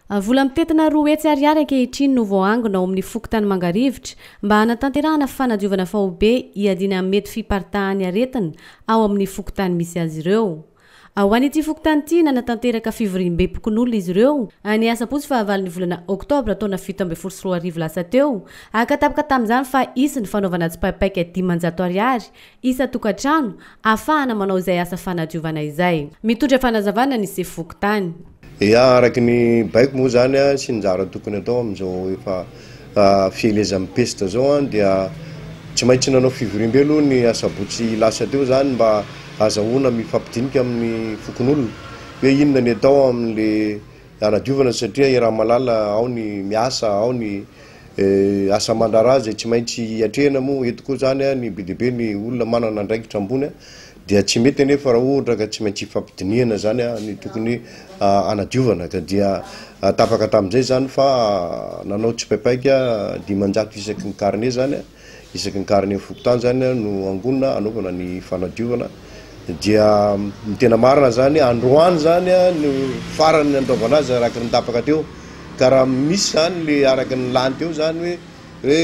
Vola mitentina roa hetsy ariary ankehitriny no voaangona ao amin'ny fokontany Mangarivotra mba hanatanterahana fanadiovana faobe hiadiana amin'ny mety fiparitahan'ny aretina ao amin'ny fokontany misy azy ireo. Ho an'ity fokontany ity, nanatanteraka fivoriambem-pokonolona izy ireo, ny asabotsy fahavalon'ny volana oktobra taona fito ambin'ny folo sy roa arivo lasa teo, haka tapaka tamin'izany fa hisy ny fanaovana tsipaipaika dimanjato ariary isan-tokantrano ahafahana manao izay asa fanadiovana izay. Mitondra fanazavana ny sefo fokontany. Ia, araka ny baiko moa izany a, sy ny zara tokony atao amin'izao efa fielezan'ny pesta izao a, dia tsy maintsy nanao fivoriambe aloha ny asabotsy lasa teo izany mba azahoana mifampidinika amin'ny fokonolona hoe inona ny atao amin'le Hanadiovana satria i Ramalala ao ny miasa ao ny asa aman-draharaha izay tsy maintsy atrehina moa eto koa izany ny be dia be ny olona manana andraikitra ambony dia tsy mety anefa raha ohatra ka tsy maintsy hifampidinihana izany ny tokony hanadiovana ka dia tapaka tamin'izay izany fa nanao tsipaipaika dimanjato isaky ny carnet izany Isaky ny karine fokontany zany no angonina anaovana ny fanadiovana dia ny tena marina zany androany zany no farany ny andraovana azy araky ny tapaka teo ka raha misy zany le araky ny lany teo zany hoe hoe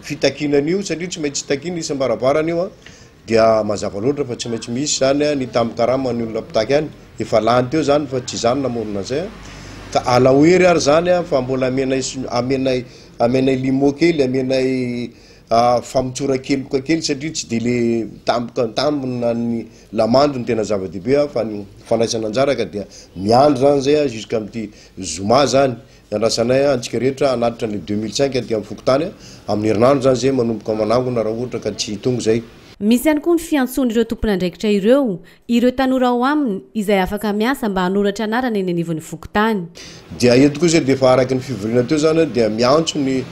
fitakiana an'io satria tsy maintsy takiana isam-barabarana io a dia mazava loatra fa tsy maintsy misy zany a ny tamin-karama ny olona mpitaky any efa lany teo zany fa tsy zany namorona an'izay a ka alao hery ary zany a fa mbola amenay amenay Amenay limo kely, amenay famotsoran-keloka kely satria tsy dia le mitamboka an-tambona ny lamandy no tena zava-dehibe an, fa ny fandraisana anjara ka dia miandry zany zay an jusqu'à amty zoma zany ny andrasanay an, antsika rehetra hanatitra anle deux mille cinq aty am fokontany an, amin'ny herinandro zany zay manomboka manangona raha ohatra ka tsy tonga zay. Misy ihany koa ny fiantsoan'ireo tompon'andraikitra ireo Ireo tanora ao aminy izay afaka miasa mba hanoratra anarana eny anivon'ny fokontany. Dia eto kosa dia efa araka ny fivoriana teo izany dia miantso ny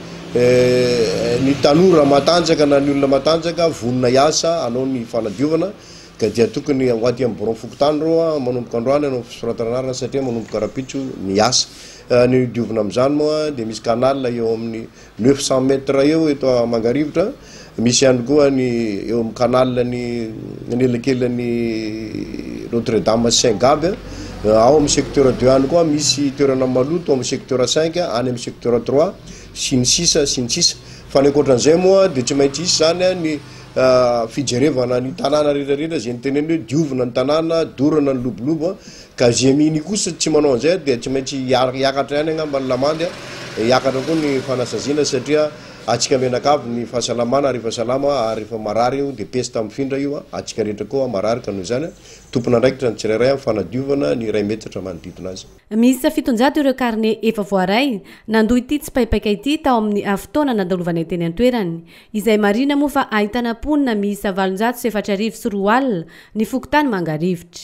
ny tanora matanjaka na ny olona matanjaka vonona hiasa hanao ny fanadiovana ka dia tokony ho aty amin'ny birao fokontany ireo manomboka androany hanao fisoratana anarana satria manomboka rahampitso ny asa. Ny diovina amin'izany moa dia misy canal eo amin'ny Neuf cent mètres eo eto Mangarivotra, misy ihany koa ny eo amin'ny canal ny anelakelan'ny Notre Dame sy Saint Gaby, ao amin'ny secteur deux any koa misy toerana maloto amin'ny secteur cinq, any amin'ny secteur trois, sy ny sisa sy ny sisa. Fa ny ankoatran'izay moa dia tsy maintsy hisy izany ny fijerevana ny tanàna rehetra rehetra izay notenenina hoe diovina ny tanàna, dorana ny lobolobo. Ka Gemini kosa tsy manao an'izay aho dia tsy maintsy hiakatra ihany angamba ny lamandy a, hiakatra koa ny fanasaziana satria antsika mianakavy ny fahasalamana rehefa salama ary rehefa marary io dia pesta mifindra io a, antsika rehetra koa marary ka noho izany a, tompon'andraikitra ny tsirairay amin'ny fanadiovana ny iray metatra manodidina azy. Miisa fitonjato ireo karne efa voaray nandoa ity tsipaipaika ity tao amin'ny fotoana nandalovanay teny an-toerany. Izay marihina moa fa ahitana mponina miisa valonjato sy efatra arivo sy roa alina ny fokontany Mangarivotra.